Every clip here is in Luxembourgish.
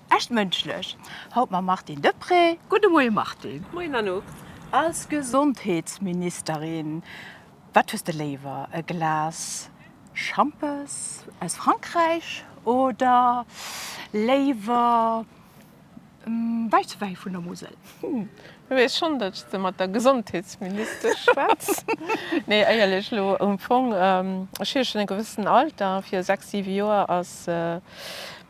Echt mënschlech haut mam Martine Deprez. Gudde Moie Martine. Moien Anouk. Als Gesondheetsministerin, wat hues de léiwer, e Glas Schampes aus Frankräich oder léiwer Wäisswäi vun der Musel? Ech weess schonn, datt de mat der Gesondheetsministesch schwätz. Nee, éierlech elo, um Fong, ech hu jo schonn e gewëssen Alter. Vir sechs, siwe Joer ass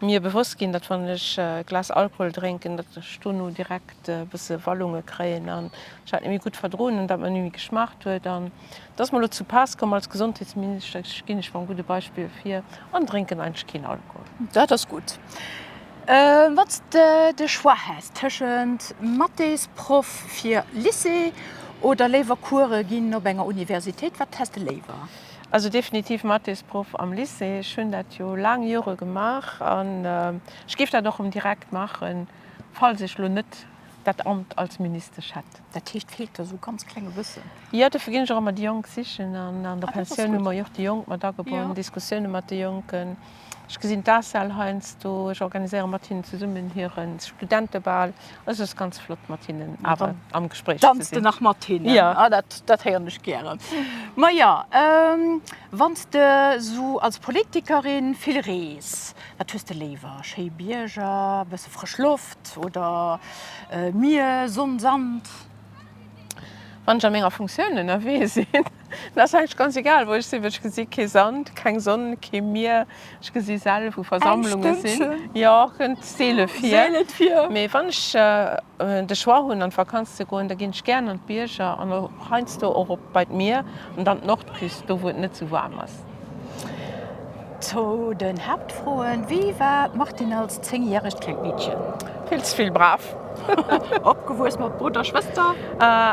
mir bewosst ginn, datt wann ech e Glas Alkohol drénken, datt ech dono direkt e bësse Wallunge kréien an ech dat net méi gutt verdroen hunn, dat mer net méi geschmaacht huet. Et ass mer elo zu pass komm, als Gesondheetsminister ginn ech mam gudde Beispill vir an drénken eigentlech keen Alkohol. Dat ass gutt. Wann s de de Choix häss tëschent Mathésproff fir Lycée oder léiwer Course ginn op enger Universitéit, wat häss de léiwer? Also definitiv Mathésproff am Lycée. Ech hunn dat jo laang Jore gemaach an ech géif dat och erëm direkt maachen, falls ech elo net dat Amt als Ministesch hätt. Dat heescht, feelt der esou ganz kleng e bëssen? Jo, dofir ginn ech och ëmmer déi Jonk sichen. An an der Pensioun hu mer jo och déi Jonk mat agebonn, Diskussioune mat de Jonken. Ech gesinn d'ACEL heiansdo, ech organiséiere mat hinnen zesummen hire Studentebal. Et ass ganz flott, mat hinnen awer am Gespréich ze sinn. Danz de nach mat hinnen? Jo. Ah, dat, dat héieren ech gären. Ma jo, wann s de esou als Politikerin vill rees, wat hues de léiwer? Schéi Bierger, e bësse. Frësch Loft oder Mier, Sonn, Sand. Wann ech a menger Funktioun ënnerwee sinn, dann ass eigentlech ganz egal wou ech sinn, well ech gesi kee Sand, keng Sonn, kee Mier. Ech gesi selten wou Versammlunge sinn. Eng Stënnchen. Jo, kënnt seele vir. Seele vir. Mee wann ech de Choix hunn an d'Vakanz ze goen, da ginn ech gären an d'Bierger an heiansdo och op bei d'Mier an dann d'Nordküst, do wou et net sou waarm ass. Zu den Haaptfroen, Wie war d'Martine als zéngjäregt klengt Meedchen? Vill ze vill brav. Opgewuess mat Brudder, Schwëster?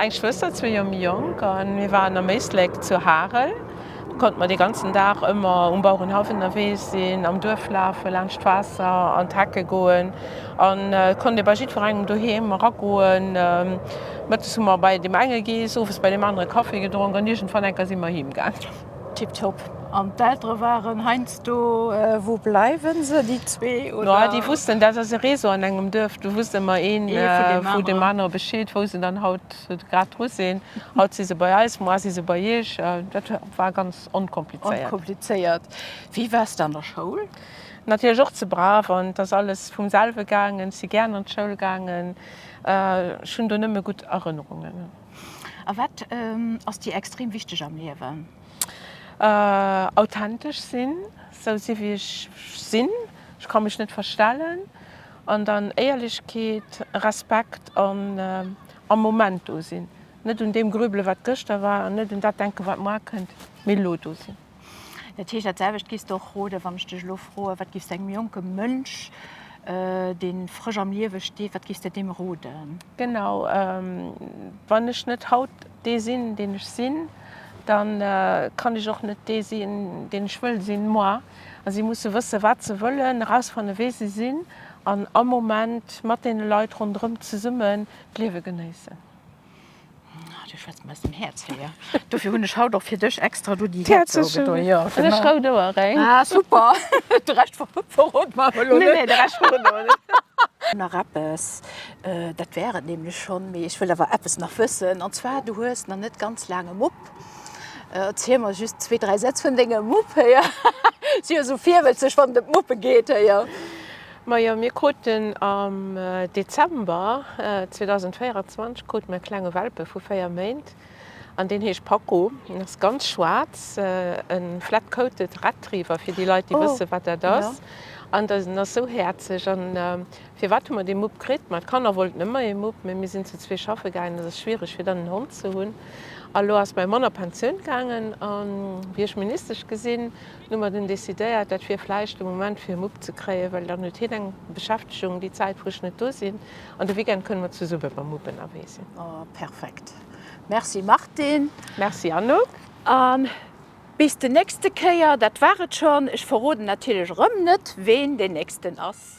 Eng Schwëster, zwee Joer méi jonk. An mir waren am Éislek zu Harel. Do konnte mer dee ganzen Dag ëmmer um Bauerenhaff ënnerwee sinn, am Duerf lafen, laanscht d'Waasser an d'Hecke goen. An et konnt ee bei jiddwerengem doheem eragoen. Mëttes hu mer bei deem enge gees, owes bei deem anere Kaffi gedronk an iergendwann enker si mer heemgaangen. Tip top. An d'Eltere waren heiansdo, wou bleiwen se déi zwee oder? No déi wussten, dat ass e Réseau an engem Duerf, do wusst ëmmer een vu deem anere Bescheed, wou se dann haut grad dru sinn. Haut si se bei eis, moar si se bei iech. Dat war ganz onkomplizéiert. Onkomplizéiert. Wéi wars de an der Schoul? Natierlech och ze brav an et ass alles vum selwe gaangen. Ech si gären an d'Schoul gaangen. Ech hunn do nëmme gutt Erënnerungen. A wat ass dir extrem wichteg am Liewen? Authentesch sinn, sou sinn wéi ech sinn, ech ka mech net verstellen. An dann Éierlechkeet, Respekt an am Moment do sinn, net un deem grübelen wat gëschter war an net un dat denken wat moar kënnt, mee elo do sinn. Dat heescht, dat selwecht giffs de och roden, wann ech dech elo froen, wat giffs de engem jonke Mënsch, dee frësch am Liewe steet, wat giffs de deem roden? Genau. Wann ech net haut dee sinn, deen ech sinn, da kann ech och net dee sinn, deen ech wëll sinn, moi. A si musse wësse wat se wëllen, erausfanne wee se sinn an am Moment mat deene Leit ronderëm zesummen d'Liewe genéissen. Du schwätz mer aus dem Häerz hei, jo. Dofir hunn ech haut och fir dech extra do déi Häerzouge do, jo. Hunn ech rout Oueréng. Ah super, de Rescht verrot mer awer elo net. Nee, nee, de Rescht verroden mer net. Nach eppes, dat war et nämlech schonn, mee ech wëll awer eppes nach wëssen, an zwar, du hues nach net ganz laang e Mupp. Erziel mer just zwee, dräi Sätz vun dengem Mupp hei, si jo esou virwëtzeg, wann et ëm d'Muppe geet hei, jo. Majo, mir kruten am Dezember 2024 krute mir e klenge Welpe vu 4 Méint an deen heescht Paco. En ass ganz schwaarz, e flat-coated Retriever fir déi Leit déi wësse wat dat ass. An en ass esou häerzeg. An firwat hu mer dee Mupp kritt? Ma d'Kanner wollten ëmmer ee Mupp, mee mir sinn zu zwee schaffe gaangen, et ass schwiereg fir dann en Hond ze hunn. A lo ass mäi Mann a Pensioun gaangen a wéi ech Ministesch gesinn, Hu mer dunn decidéiert, dat wier vläicht de Moment fir e Mupp ze kréien, well dann huet hien eng Beschäftegung déi Zäit wou ech net do sinn, an de Weekend kënne mer zesumme mam Mupp ënnerwee sinn. Oh perfekt. Merci Martine. Merci Anouk. A bis de nächste Kéier, dat war et schonn. Ech verroden natierlech erëm net ween deen nächsten ass.